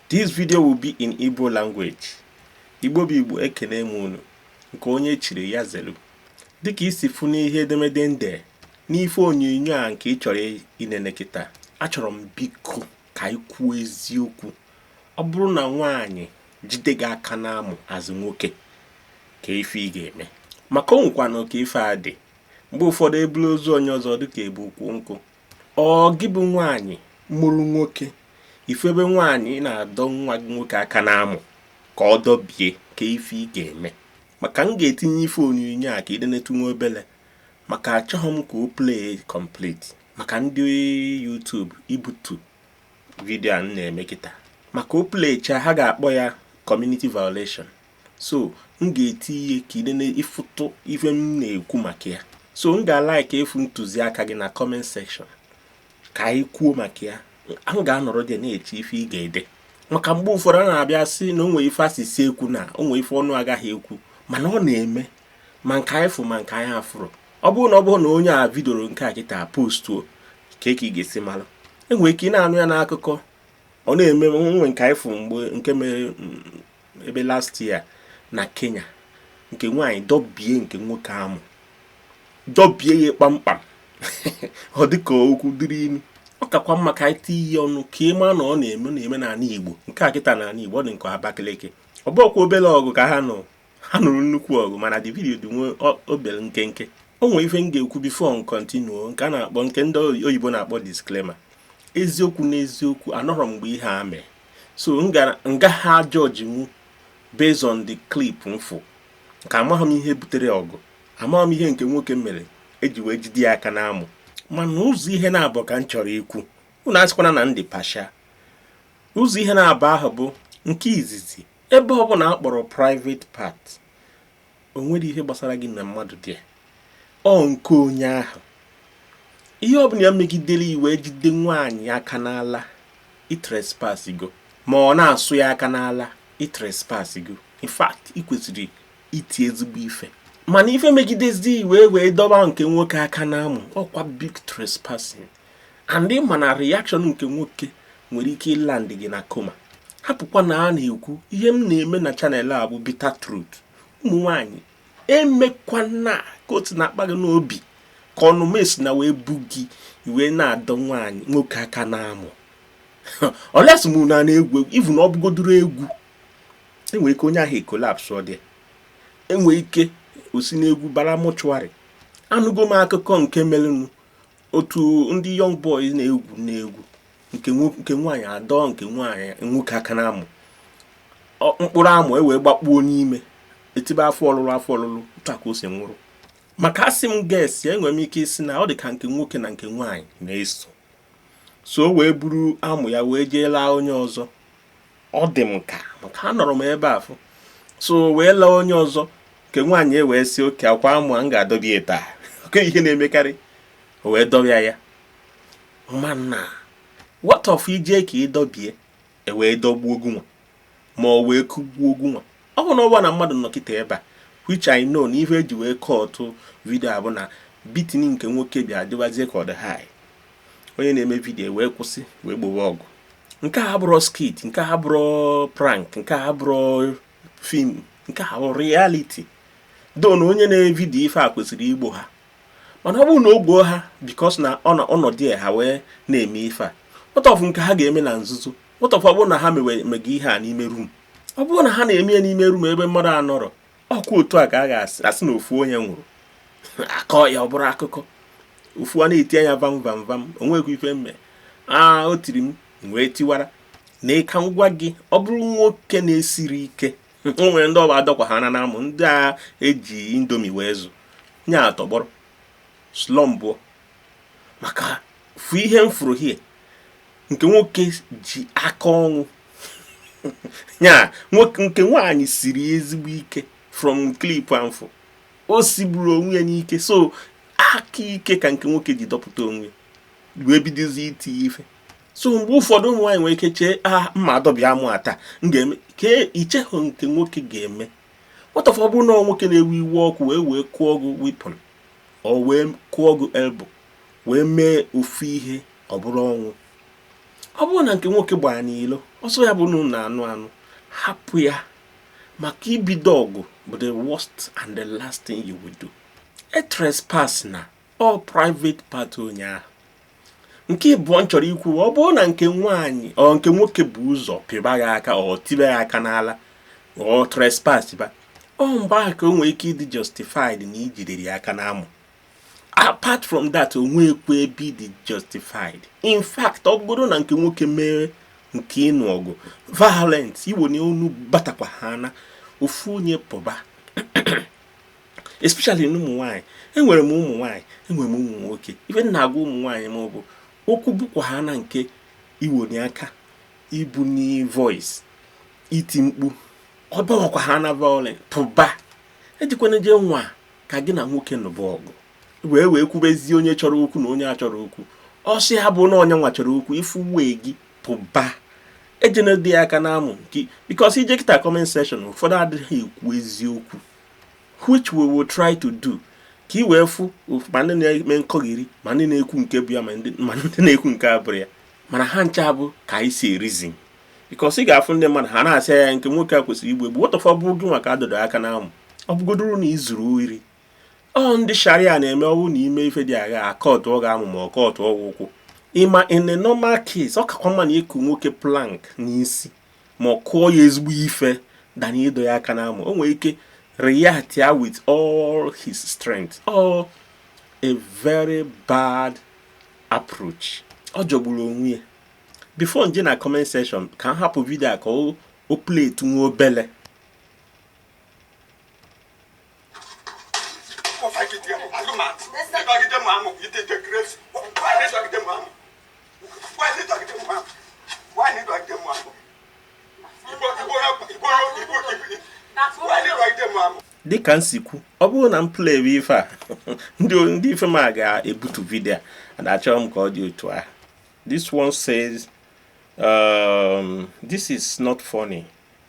This video will be in Igbo language. Igbo bụ Igbo ekene m unu nke onye chiri ya zelu. Dịka i si fụ n'ihe edemede m de n'ife onyonyo a nke ị chọrọ inene kịta achọrọ m biko ka ị kwuo eziokwu ọ bụrụ na nwaanyị jide gị aka n'amụ as nwoke kee ife ị ga-eme maka o nwekwanụ ka ife a dị mgbe ụfọdụ ebulu ozu onye ọzọ dịka ebu ukwu nkụ ọ gị bụ nwaanyị mụrụ nwoke ị fụ ebe nwaanyị na-adọ nwa gị nwoke aka n'amụ ka ọ dọbie kee ife ị ga-eme maka m ga-etinye ife onyonyo a ka ị nenetu nwa obele maka achọghị m ka o play complete maka ndị YouTube ibutu vidio a m na-eme kịta maka o plechaa ha ga-akpọ ya community violation so m ga-etinye ka ị nene ị fụtụ ife m na-ekwu maka ya so m ga-alaiki ịfụ ntụziaka gị na kọment sekshọn ka anyị kwuo maka ya m ga-anọrọdị na-eche ife ị ga-ede maka mgbe ụfọdụ a na-abịa sị na o nwe ife asịsị ekwu na o nwe ife ọnụ agaghị ekwu mana ọ na-eme ma nke anyị fụ ma nke anyị afụrọ ọ bụrụ na ọ bụrụ na onye a evidiorọ nke a kịta postuo kee ka ị ga-esi mara enwere ike ị na-anụ ya n'akụkọ ọ na-eme nwe nke anyị fụ mgbe nke mere mm, ebe last year na kenya nke nwaanyị dọbie nke nwoke amụ dọbie ya kpamkpam ọ dịka okwu dịrị inu ọ kakwa mma ka anyị tinye ọnụ ka ị ma na ọ na-eme na-eme n'ala igbo nke a kịta n'ala igbo ọ dịka abakaliki ọ bụkwa obere ọgụ ka ha nụ ha nụrụ nnukwu ọgụ mana the video dị nwa obere nkenke o nwere ife m ga-ekwu bifo m kọntinuo nke a na-akpọ nke ndị oyibo na-akpọ disclaimer eziokwu n'eziokwu anọrọ m ebe ihe a mee so m ga-ajọji mu based on the clip m fụ ka amaghị m ihe butere ọgụ amaghị m ihe nke nwoke mere eji wee jide ya aka n'amụ mana ụzọ ihe naabọ ka m chọrọ ikwu unu asịkwana na m dị partial ụzọ ihe naabọ ahụ bụ nke izizi ebe ọbụla akpọrọ private part o nwerọ ihe gbasara gị na mmadụ there ọ nke onye ahụ ihe ọ bụla ya megidere ị wee jide nwaanyị aka n'ala i trespass go ma ọ na-asụ ya aka n'ala i trespass go in fact ị kwesịrị iti ezigbo ife mana ife megidezi ị wee wee dọba nke nwoke aka n'amụ ọkwa big trespassing and ị ma na reaction nke nwoke nwere ike ịland gị na koma hapụkwa na a na-ekwu ihe m na-eme na chanel a bụ bitter truth ụmụ nwanyị emekwana ka otu na-akpa gị n'obi ka ọnụ mesi na iwe bu gị ị wee na-adọ nwaanyị nwoke aka n'amụ unless m na na-egwu egwu even ọ bụgodoro egwu enwere ike onye ahụ ekolapsụọ there enwere ike o si n'egwu bara mọchụarị anụgo m akụkọ nke merenụ otu ndị young boys na-egwu na-egwu nke nwo- nke nwaanyị adọọ nke nwaanyị nwoke aka na amụ Ọ- mkpụrụ amụ e wee gbakpuo n'ime etibe afọ ọlụlụ afọ ọlụlụ otu a ka o si nwụrụ maka asị m guess ya enwere m ike isi na ọ dị ka nke nwoke na nke nwaanyị na-eso so o wee buru amụ ya wee jee laa onye ọzọ ọ dị m ka maka anọrọ m ebe afụ so wee laa onye ọzọ nke nwaanyị e wee sị okay ọkwa amụ a m ga-adọbi ya taa okay ihe na-emekarị o wee dọbịa ya mana what of i jee ka ị dọbie e wee dọgbuo ogu nwa ma o wee kụgbuo ogu nwa ọ bụ na ọ bụrọ na mmadụ nọkịta ebe a which I know na ihe e ji wee cut video a bụ na beating nke nwoke bịa dịwazie ka ọ dị high onye na-eme video wee kwụsị wee gbowe ọgụ nke a abụrọ skit nke a abụrọ prank nke a abụrọ film nke a bụ reality though na onye na-eme video ife a kwesịrị igbo ha mana ọ bụrụ na o gboo ha because na ọ nọdụ ya ha wee na-eme ife a what of nke ha ga-eme na nzuzo what of ọ bụrụ na ha mega ihe a n'ime room ọ bụrụ na ha na-eme ya n'ime room ebe mmadụ anọrọ ọkwa otu a ka a ga-asị asị na ofu onye nwụrụ a kọọ ya ọ bụrụ akụkọ ofu a na-eti anya vam vam vam o nwekwa ife mme a o tiri m wee tiwara na ịka ngwa gị ọ bụrụ nwoke na-esiri ike o nwere ndị ọ bụ a dọkwa ha na amụ ndị a e ji Indomie wee zụ nya atọgbọrọ slumpuo maka fụ ihe m fụrụ here nke nwoke ji aka ọnwụ ya nke nwaanyị siri ezigbo ike from clip ahụ o sigburu onwe ya n'ike so aka ike ka nke nwoke ji dọpụta onwe wee bidozi iti ife so mgbe ụfọdụ ụmụ nwaanyị nwere ike chee aha mma adọbi amụ a taa m ga-eme ka i chehọ nke nwoke ga-eme what of ọ bụrụ na nwoke na-ewe iwe ọkụ wee wee kụọ gị weapon or wee kụọ gị elbow wee mee ofu ihe ọ bụrụ ọnwụ ọ bụrụ na nke nwoke gbara n'ilo ọsọ ya bụ na unu anụ anụ hapụ ya maka ibido ọgụ bụ the worst and the last thing you will do a trespass na all private part onye ahụ nke ịbụọ m chọrọ ikwu ọ bụrụ na nke nwaanyị ọ nke nwoke bụ ụzọ pịba ya aka or tibe ya aka n'ala or trespass ba ọ mgbe ahụ ka o nwere ike ịdị justified na i jidere ya aka n'amụ apart from that o nwekwa ebe ị dị justified in fact ọ bụrụ na nke nwoke mere nke ịnụ ọgụ violent iwe na onu batakwa ha na ofu onye pụba especially n'ụmụ nwaanyị enwere m ụmụ nwaanyị enwere m ụmụ nwoke ife m na-agwa ụmụ nwaanyị ma ọ bụ okwu bụkwa ha na nke iwoni aka ibuni voice iti mkpu ọ bawakwa ha na violence pụba ejikwana jee nwa ka gị na nwoke nụba ọgụ wee wee kwubezie onye chọrọ okwu na onye achọrọ okwu ọsị ha bụ na onye nwa chọrọ okwu ife wee gị pụba ejena dị aka na amụ nwoke because i jee kịta comment section ụfọdụ adịghị ekwu eziokwu which we will try to do ka ị wee fụ ma ndị na-eme nkọghiri ma ndị na-ekwu nke bụ ya ma ndị na-ekwu nke abụrọ ya mana ha ncha bụ ka anyị si e-reason because ị ga-afụ ndị mmadụ ha na-asị na nke nwoke a kwesịrị igbu egbu what if ọ bụ gị nwa ka adọdọ aka na amụ ọ bụgodoro na izuru ori or ndị sharia na-eme ọ wụ na i mee ife dị agha a cutụọ gị amụ ma a cutụọ gị ụkwụ ị ma in a normal case ọ kakwa mma na ịkụ nwoke plank n'isi ma ọ kụọ ya ezigbo ife than ịdọ ya aka n'amụ o nwere ike react ya with all his strength or a very bad approach ọ jọgburu onwe ya before nje na comment section ka m hapụ video a ka o playtụ nwa obele dịka m si kwu ọ bụrụ na m playwe ife a ndị ife m a ga-ebutu video a and achọrọ m ka ọ dị otu ahụ this one says um, this is not funny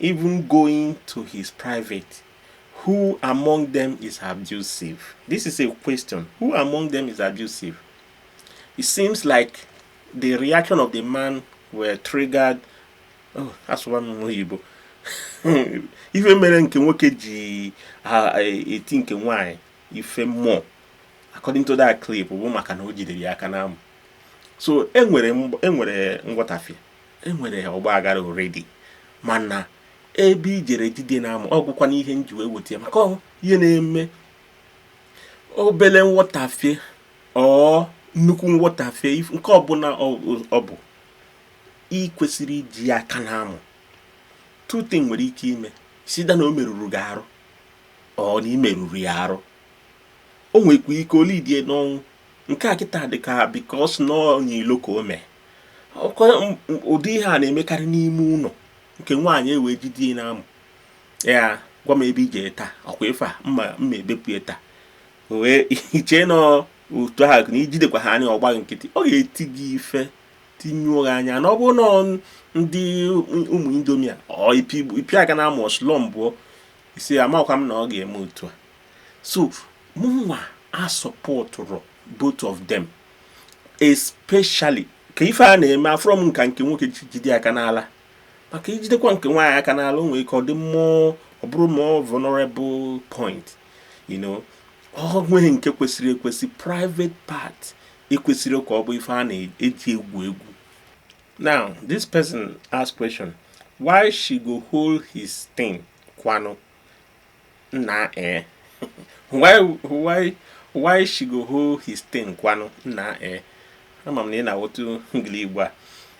even going to his private who among them is abusive this is a question who among them is abusive it seems like the reaction of the man were triggered oh that's one oyibo ife mere nke nwoke ji eti nke nwanyị ife more according to that clip bụ maka na o jidere ya aka n'amụ so enwere nghọtafie enwere ọgba aghara already mana ebe ijere jide na amụ ọ bụkwa na ihe nji wee weta ya maka ihe na-eme obele nghọtafie or nnukwu nghọtafie nke ọbụla ọ bụ ị kwesịrọ iji aka na amụ two things nwere ike ime is either na o merụrụ gị arụ or na i merụrụ ya arụ o nwekwa ike o leadie n'ọnwụ nke a kịta dị ka because na onye ilo ka o mee ụdị ihe a na-emekarị n'ime ụlọ nke nwaanyị ewee jide ya n'amụ ya gwa m ebe i je taa ọ kwa ife a mma mma ebepụ ya taa wee ichee na otu ahụ na ijidekwa ha anya ọ gba nkịtị ọ ga-eti gị ife tinyụọ gị anya na ọ bụrụ na ndị ụmụ indomi a ọ ịpị aka n'amụ ọsụlọ mbụọ isi amakwa m na ọ ga-eme otu a so mụnwa asupportụrọ both of them especially ka ife a na-eme afụrọ m nka nke nwoke ji jide aka n'ala maka ijidekwa nke nwaanyị aka n'ala o nwere ike ọ dị more ọ bụrụ more vulnerable point you know o nweghị nke kwesịrị ekwesị private part ekwesịrọ ka ọ bụ ife a na-eji egwu egwu now this person ask question why she go hold his thing kwanụ nna ee why why why she go hold his thing kwanụ nna ee ama m na ị na-aghọta ngili igbo a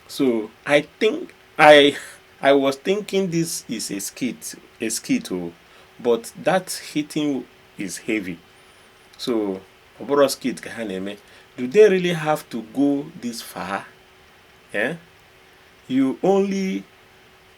so i think i i was thinking this is a skit a skit o oh, but that hitting is heavy so ọ bụrụ skit ka ha na-eme do they really have to go this far eh? you only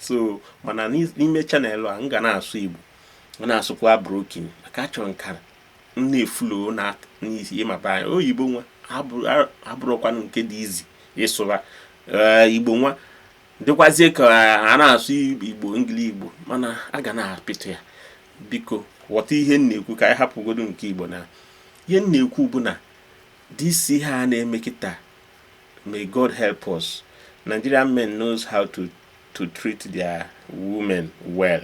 so mana n'ime channel a m ga na-asụ igbo m na-asụkwa broken maka achọrọ m ka m na-eflow na n'isi ịmaba anya oyibo nwa abụrọkwanụ nke dị easy ịsụba eh, igbo nwa dịkwazie ka a na-asụ igbo ngili igbo mana a ga na-apịtụ ya biko ghọta ihe m na-ekwu ka anyị hapụgodu nke igbo na ihe m na-ekwu bụ na this ihe a na-eme kịta May God help us. Nigerian men knows how to to treat their women well.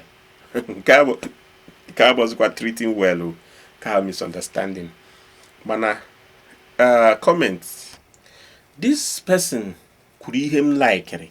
nke a bụzikwa treating well o ka misunderstanding mana uh, comment this person kwuru ihe m likere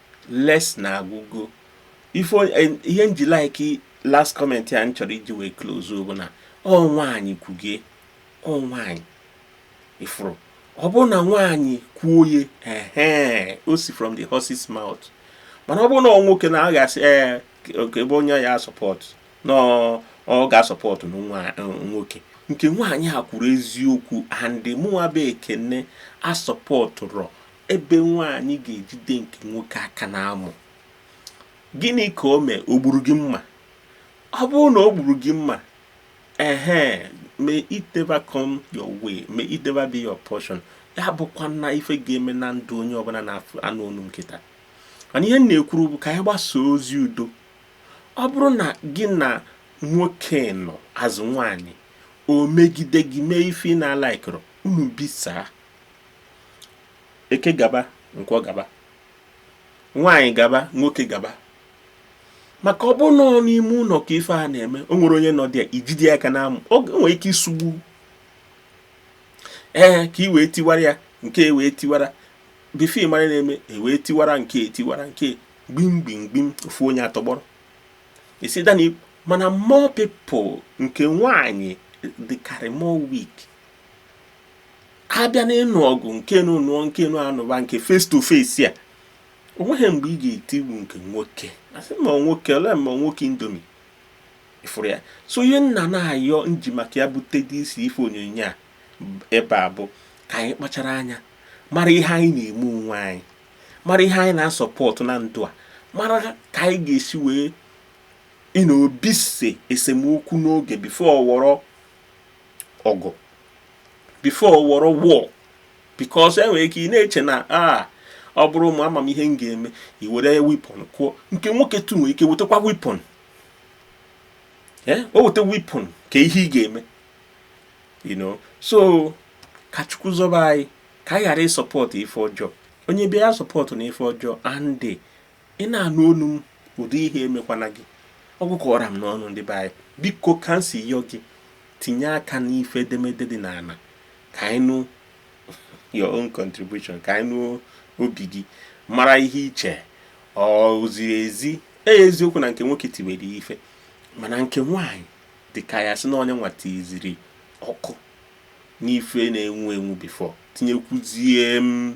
les na agwụgo ife onye- eh, ihe m ji like last comment a m chọrọ iji wee close bụ na ọ nwaanyị kwugie ọ nwaanyị ị fụrụ ọ bụrụ na nwaanyị kwuo ye ehe o si from the horse's mouth mana ọ bụrụ na ọ nwoke na a ga-asị ee nke ebe onye ya support na ọ- ọ ga-asupport na nwa- nwoke nke nwaanyị a kwuru eziokwu and mụnwa bụ ekene asupportụrọ ebe nwaanyị ga-ejide nke nwoke aka n'amụ gịnị ka o mee o gburu gị mma ọ bụrụ na o gburu gị mma ehe may it never come your way may it never be your portion ya abụkwana ife ga-eme na ndụ onye ọbụla na-anụ onu m kịta mana ihe m na-ekwuru bụ ka anyị gbasaa ozi udo ọ bụrụ na gị na nwoke nọ as nwaanyị o megide gị mee ife ị na-alikerọ unu bisaa eke gaba nkwọ gaba nwaanyị gaba nwoke gaba maka ọ bụ nọọ n'ime ụlọ ka ife a na-eme o nwere onye nọ dị ya ijide aka na amụ o nwere ike isugbu ee ka i wee tiwara ya nke e wee tiwara before ị mara na-eme e wee tiwara nke e tiwara nke gbim gbim gbim ofu onye atọgbọrọ isi dani mana more people nke nwaanyị dịkarị more weak a bịa n'ịnụ ọgụ nke nụ nụọ nke nụ anụba nke face to face a o nweghị mgbe ị ga-etigbu nke nwoke a sị ma nwoke ole ma nwoke Indomie ị fụrụ ya so ihe m na-ayọ m ji maka ya bute this ife onyonyo a ebe a bụ ka anyị kpachara anya mara ihe anyị na-eme onwe anyị mara ihe anyị na-asọpọtụ na ndụ a mara ka anyị ga-esi wee na-ebise esemokwu n'oge before ọ wọrọ ọgụ before ọ wọrọ war because e nwere ike ị na-eche na a ah, ọ bụrụ mụ ama m ihe m ga-eme i were weapon kụọ nke nwoke too nwere ike wetakwa weapon eh, o weta weapon kee ihe ị ga-eme you know so ka chukwu zọba anyị ka anyị ghara ịsọpọtụ ife ọjọọ onye bịa ya asọpọtụna ife ọjọọ and ị na-anụ onu m ụdị ihe emekwana gị ọ gwụkọrọ m n'ọnụ ndị be anyị biko ka m si yọ gị tinye aka n'ife edemede dị n'ala ka anyị nụ your own contribution ka anyị nụ obi gị mara ihe i che ọ ziri ezi e eziokwu na nke nwoke tiwere ife mana nke nwaanyị dị ka ya sị na onye nwa tiziri ọkụ n'ife na-enwu enwu before tinyekwuzie m